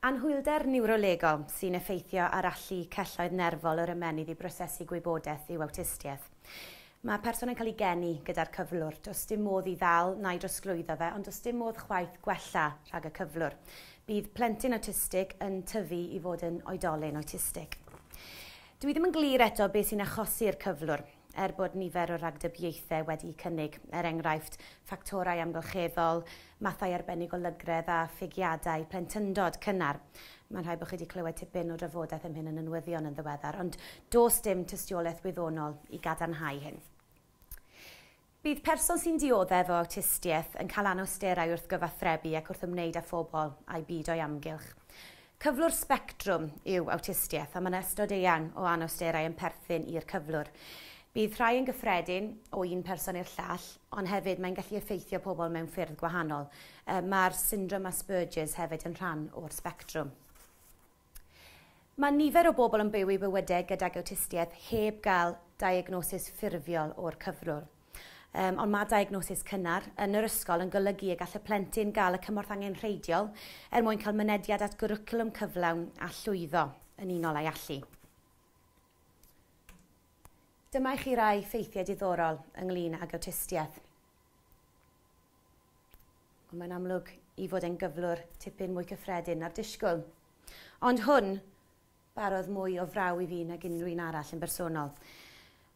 Anhwylder niwrolegol sy'n effeithio ar allu celloedd nerfol yr ymennydd i brosesu gwybodaeth yw awtistiaeth. Mae person yn cael ei geni gyda'r cyflwr. Does dim modd i ddal na'i drosglwyddo fe, ond does dim modd chwaith gwella rhag y cyflwr. Bydd plentyn awtistig yn tyfu i fod yn oedolyn awtistig. Dwi ddim yn glir eto beth sy'n achosi'r cyflwr, er bod nifer o ragdybiaethau wedi cynnig, er enghraifft, ffactorau amgylcheddol, mathau arbennig o lygredd a phigiadau plentyndod cynnar. Mae'n rhaid bod chi wedi clywed tipyn o drafodaeth am hyn yn y newyddion yn ddiweddar, ond does dim tystiolaeth wyddonol i gadarnhau hyn. Bydd person sy'n dioddef o awtistiaeth yn cael anawsterau wrth gyfathrebu ac wrth ymwneud â phobl a'i byd o'i amgylch. Cyflwr sbectrwm yw awtistiaeth, ond mae yna ystod eang o anawsterau yn perthyn i'r cyflwr. Bydd rhai yn gyffredin o un person i'r llall, ond hefyd mae'n gallu effeithio pobl mewn ffyrdd gwahanol. Mae'r syndrom Asperger's hefyd yn rhan o'r sbectrwm. Mae nifer o bobl yn byw eu bywydau gydag awtistiaeth heb gael diagnosis ffurfiol o'r cyflwr. Yym, ond mae diagnosis cynnar yn yr ysgol yn golygu y gall y plentyn gael y cymorth angenrheidiol er mwyn cael mynediad at gwricwlwm cyflawn a llwyddo yn unol â'i allu. Dyma i chi rai ffeithiau diddorol ynglyn ag awtistiaeth. Ond mae'n amlwg i fod e'n gyflwr tipyn mwy cyffredin na'r disgwyl. Ond hwn barodd mwy o fraw i fi nag unrhyw un arall yn bersonol.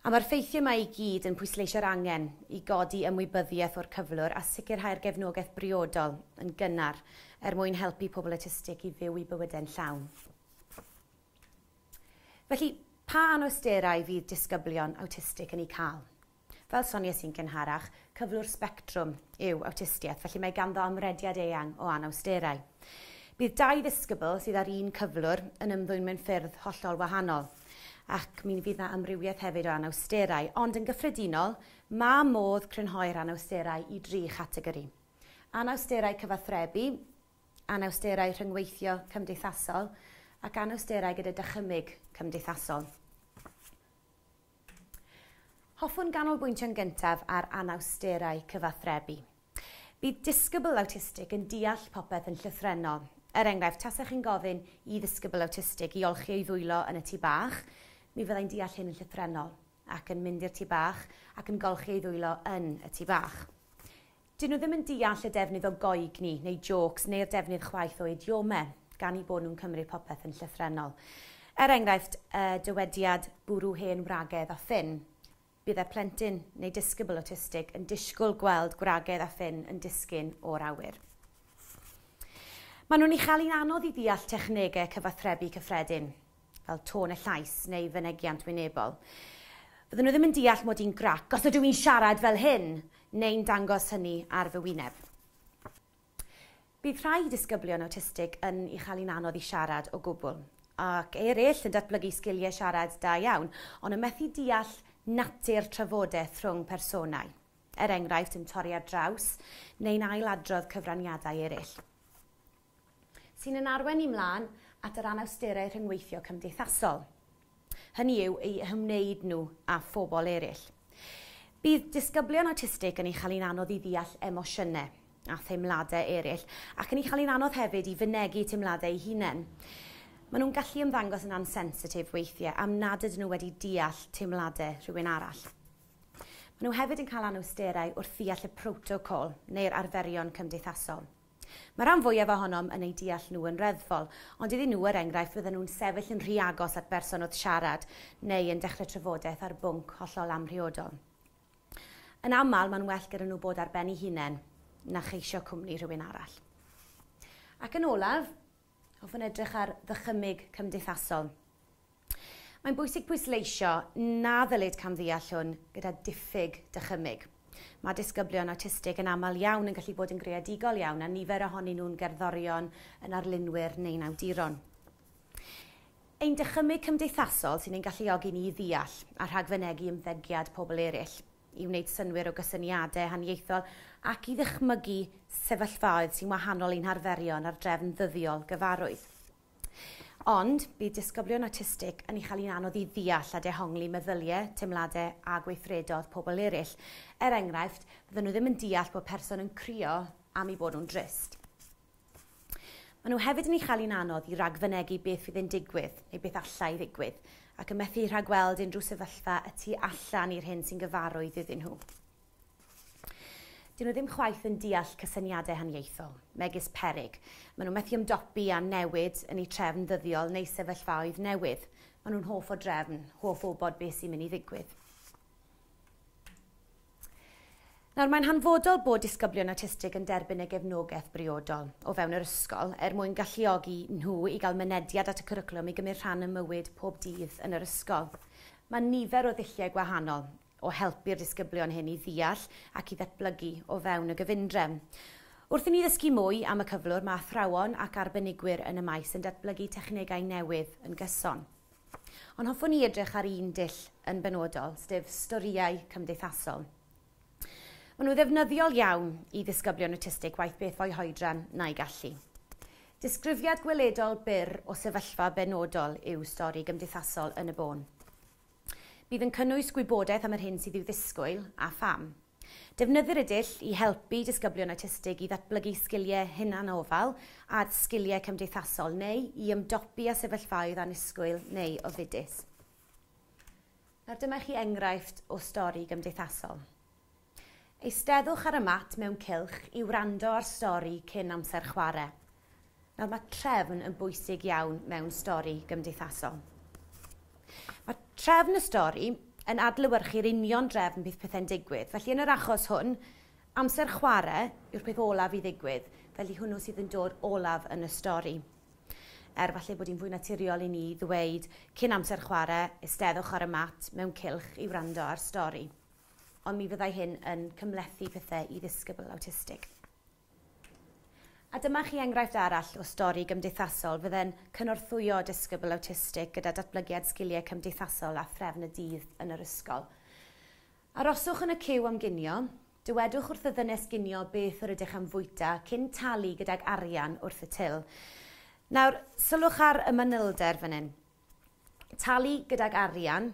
A mae'r ffeithiau yma i gyd yn pwysleisio'r angen i godi ymwybyddiaeth o'r cyflwr a sicrhau'r gefnogaeth briodol yn gynnar er mwyn helpu pobl awtistig i fyw eu bywydau'n llawn. Felly, pa anawsterau fydd disgyblion awtistig yn eu cael? Fel sonies i'n gynharach, cyflwr sbectrwm yw awtistiaeth, felly mae ganddo amrediad eang o anawsterau. Bydd dau ddisgybl sydd â'r un cyflwr yn ymddwyn mewn ffyrdd hollol wahanol, ac mi fydd 'na amrywiaeth hefyd o anawsterau, ond yn gyffredinol, mae modd crynhoi'r anawsterau i dri chategori. Anawsterau cyfathrebu, anawsterau rhyngweithio cymdeithasol, ac anawsterau gyda dychymyg cymdeithasol. Hoffwn ganolbwyntio'n gyntaf ar anawsterau cyfathrebu. Bydd disgybl awtistig yn deall popeth yn llythrennol. Er enghraifft, tasech chi'n gofyn i ddisgybl awtistig i olchi ei ddwylo yn y tŷ bach, mi fyddai'n deall hyn yn llythrennol, ac yn mynd i'r tŷ bach ac yn golchi ei ddwylo yn y tŷ bach. Dyn nhw ddim yn deall y defnydd o goegni neu jôcs neu'r defnydd chwaith o idiomau, gan eu bod nhw'n cymryd popeth yn llythrennol. Er enghraifft, y dywediad 'bwrw hen wragedd a ffyn', bydd y plentyn neu disgybl awtistig yn disgwyl gweld gwragedd a ffyn yn disgyn o'r awyr. Maen nhw'n ei chael hi'n anodd i ddeall technegau cyfathrebu cyffredin. fel tôn y llais neu fynegiant wynebol. Fydden nhw ddim yn deall mod i'n grac os ydw i'n siarad fel hyn neu'n dangos hynny ar fy wyneb. Bydd rhai disgyblion awtistig yn ei chael hi'n anodd i siarad o gwbl, ac eraill yn datblygu sgiliau siarad da iawn, ond yn methu deall natur trafodaeth rhwng personau, er enghraifft yn torri ar draws neu'n ail-adrodd cyfraniadau eraill. sy'n ein arwain ni 'mlaen at yr anawsterau rhyngweithio cymdeithasol, hynny yw, eu hymwneud nhw â phobl eraill. Bydd disgyblion awtistig yn ei chael hi'n anodd i ddeall emosiynau a theimladau eraill, ac yn ei chael hi'n anodd hefyd i fynegi teimladau eu hunain. Maen nhw'n gallu ymddangos yn ansensitif weithiau am nad ydyn nhw wedi deall teimladau rhywun arall. Maen nhw hefyd yn cael anawsterau wrth ddeall y protocol neu'r arferion cymdeithasol. Mae rhan fwyaf ohonom yn eu deall nhw yn reddfol, ond iddyn nhw, er enghraifft, fydden nhw'n sefyll yn rhy agos at berson wrth siarad neu yn dechrau trafodaeth ar bwnc hollol amhriodol. Yn aml, mae'n well gyda nhw bod ar ben eu hunain na cheisio cwmni rhywun arall. Ac yn olaf, Hoffwn edrych ar ddychymyg cymdeithasol. Mae'n bwysig pwysleisio na ddylid camddeall hwn gyda diffyg dychymyg. Mae disgyblion awtistig yn aml iawn yn gallu bod yn greadigol iawn a nifer ohonyn nhw'n gerddorion, yn arlunwyr neu'n awduron. Ein dychymyg cymdeithasol sy'n ein galluogi ni i ddeall a rhagfynegi ymddygiad pobl eraill. i wneud synnwyr o gysyniadau haniaethol ac i ddychmygu sefyllfaoedd sy'n wahanol i'n harferion a'r drefn ddyddiol gyfarwydd. Ond, bydd disgyblion awtistig yn ei chael hi'n anodd i ddeall a dehongli meddyliau, teimladau a gweithredoedd pobl eraill. Er enghraifft, fyddan nhw ddim yn deall bod person yn crio am eu bod nhw'n drist. Maen nhw hefyd yn ei chael hi'n anodd i ragfynegi beth fydd yn digwydd, neu beth allai ddigwydd, ac yn methu rhagweld unrhyw sefyllfa y tu allan i'r hyn sy'n gyfarwydd iddyn nhw. Dyn nhw ddim chwaith yn deall cysyniadau haniaethol, megis peryg. Maen nhw'n methu ymdopi â newid yn eu trefn ddyddiol neu sefyllfaoedd newydd. Maen nhw'n hoff o drefn, hoff o wybod beth sy'n mynd i ddigwydd. Nawr, mae'n hanfodol bod disgyblion awtistig yn derbyn y gefnogaeth briodol o fewn yr ysgol er mwyn galluogi nhw i gael mynediad at y cwricwlwm i gymryd rhan ym mywyd pob dydd yn yr ysgol. Mae nifer o ddulliau gwahanol o helpu'r disgyblion hyn i ddeall ac i ddatblygu o fewn y gyfundrefn. Wrth i ni ddysgu mwy am y cyflwr, mae athrawon ac arbenigwyr yn y maes yn datblygu technegau newydd yn gyson. Ond hoffwn i edrych ar un dull yn benodol, sef storïau cymdeithasol. Maen nhw ddefnyddiol iawn i ddisgyblion awtistig waeth beth fo'u hoedran na'i gallu. Disgrifiad gweledol byr o sefyllfa benodol yw stori gymdeithasol Yn y Bôn. Bydd yn cynnwys gwybodaeth am yr hyn sydd i'w ddisgwyl a pham. Defnyddir y dull i helpu disgyblion awtistig i ddatblygu sgiliau hunanofal a sgiliau cymdeithasol neu i ymdopi â sefyllfaoedd annisgwyl neu ofidus. Nawr dyma i chi enghraifft o stori gymdeithasol. Eisteddwch ar y mat mewn cylch i wrando ar stori cyn amser chwarae. Nawr, mae trefn yn bwysig iawn mewn stori gymdeithasol. Mae trefn y stori yn adlewyrchu'r union drefn bydd pethau'n digwydd. Felly, yn yr achos hwn, amser chwarae yw'r peth olaf i ddigwydd, felly hwnnw sydd yn dod olaf yn y stori. Er falle bod hi'n fwy naturiol i ni ddweud cyn amser chwarae, eisteddwch ar y mat mewn cylch i wrando ar stori. Ond mi fyddai hyn yn cymhlethu pethau i ddisgybl awtistig. A dyma chi enghraifft arall o stori gymdeithasol fydde'n cynorthwyo disgybl awtistig gyda datblygiad sgiliau cymdeithasol a threfn y dydd yn yr ysgol. Aroswch yn y ciw am ginio. Dywedwch wrth y ddynes ginio beth yr ydych am fwyta cyn talu gydag arian wrth y til. Nawr, sylwch ar y manylder fan hyn. Talu gydag arian,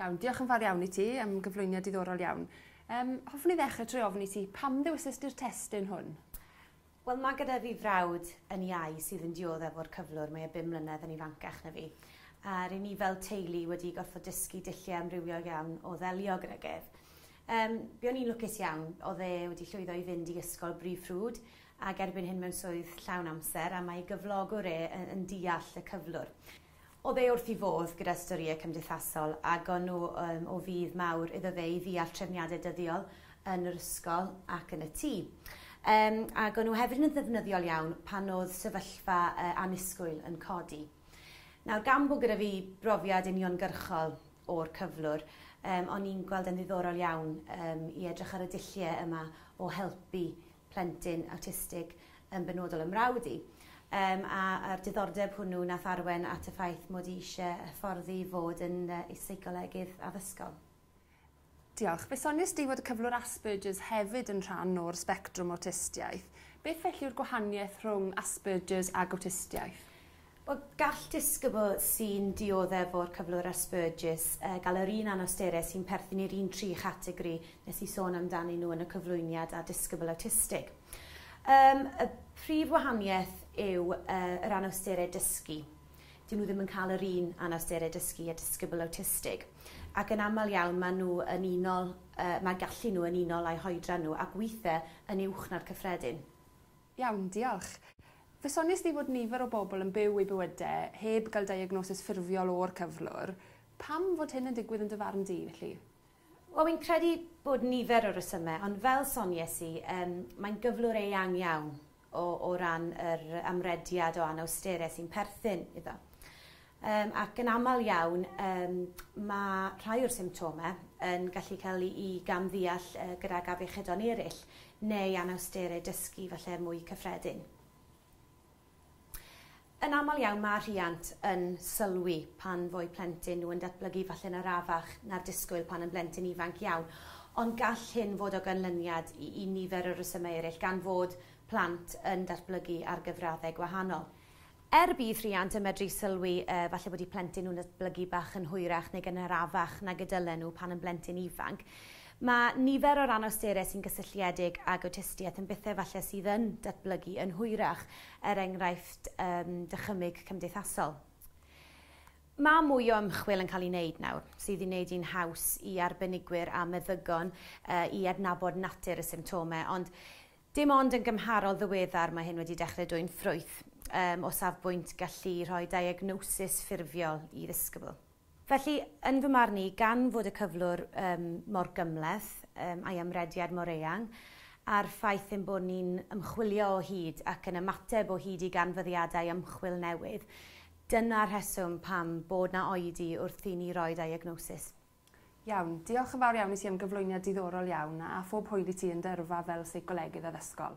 Iawn, diolch yn fawr iawn i ti am gyflwyniad diddorol iawn. Um, hoffwn i ddechrau trwy ofyn i ti, pam ddewisys di'r testyn hwn? Wel, mae gyda fi frawd yn iau sydd yn dioddef o'r cyflwr, mae e bum mlynedd yn ifancach na fi. A rydyn ni fel teulu wedi gorfod dysgu dulliau amrywiol iawn o ddelio gyda gef. Um, be o'n i'n lwcus iawn, oedd e wedi llwyddo i fynd i ysgol brif ffrwd ac erbyn hyn mewn swydd llawn amser a mae gyflogwr e yn, yn deall y cyflwr. Oedd e wrth 'i fodd gyda'r storïau cymdeithasol a gawn nhw yym o fudd mawr iddo fe i ddeall trefniadau dyddiol yn yr ysgol ac yn y tŷ. Yym a gawn nhw hefyd yn ddefnyddiol iawn pan oedd sefyllfa yy annisgwyl yn codi. Nawr gan bod gyda fi brofiad uniongyrchol o'r cyflwr, yym o'n i'n gweld e'n ddiddorol iawn yym i edrych ar y dulliau yma o helpu plentyn awtistig yn benodol ym mrawd i. Yym a a'r diddordeb hwnnw nath arwen at y ffaith mod i isie hyfforddi i fod yn yy i seicolegydd addysgol. Diolch. Fe sonies di fod y cyflwr Asperger's hefyd yn rhan o'r sbectrwm awtistiaeth. Beth felly yw'r gwahaniaeth rhwng Asperger's ag awtistiaeth? Wel, gall disgybl sy'n dioddef o'r cyflwr Asperger's gael yr un anawsterau sy'n perthyn i'r un tri chategori nes i sôn amdanyn nhw yn y cyflwyniad â disgybl awtistig. Um, y prif wahaniaeth yw uh, yr anawsterau dysgu. Dyn nhw ddim yn cael yr un anawsterau dysgu a disgybl awtistig. Ac yn aml iawn maen nhw yn unol, uh, mae gallu nhw yn unol â'i hoedran nhw ac weithiau yn uwch na'r cyffredin. Iawn, diolch. Fe sonies di fod nifer o bobl yn byw eu bywydau heb gael diagnosis ffurfiol o'r cyflwr. Pam fod hyn yn digwydd yn dy farn di, felly? Wel, fi'n credu bod nifer o resymau, ond fel sonies i, yym, mae'n gyflwr eang iawn o o ran yr amrediad o anawstere sy'n perthyn iddo. Yym, ac yn aml iawn, yym, mae rhai o'r symptomau yn gallu cael eu gam-ddeall gydag afiechydon eraill neu anawsterau dysgu falle mwy cyffredin. Yn aml iawn mae rhiant yn sylwi pan fo'u plentyn nhw yn datblygu falle'n arafach na'r disgwyl pan yn blentyn ifanc iawn, ond gall hyn fod o ganlyniad i i nifer o resymau eraill gan fod plant yn datblygu ar gyfraddau gwahanol. Er bydd rhiant yn medru sylwi yy falle bod eu plentyn nhw'n datblygu bach yn hwyrach neu gynharafach nag y dylen nhw pan yn blentyn ifanc, mae nifer o'r anawsterau sy'n gysylltiedig ag awtistiaeth yn bethau falle sydd yn datblygu yn hwyrach, er enghraifft yym dychymyg cymdeithasol. Mae mwy o ymchwil yn cael ei wneud nawr sydd i wneud hi'n haws i arbenigwyr a meddygon yy i adnabod natur y symptomau ond Dim ond yn gymharol ddiweddar mae hyn wedi dechrau dwyn ffrwyth, yym, o safbwynt gallu rhoi diagnosis ffurfiol i ddisgybl. Felly, yn fy marn i, gan fod y cyflwr, yym, mor gymhleth, yym, a'i amrediad mor eang, a'r ffaith ein bod ni'n ymchwilio o hyd ac yn ymateb o hyd i ganfyddiadau ymchwil newydd, dyna'r rheswm pam bod 'na oedi wrth i ni roi diagnosis. Iawn, diolch yn fawr iawn i ti am gyflwyniad diddorol iawn a phob hwyl i ti yn dy yrfa fel seicolegydd addysgol.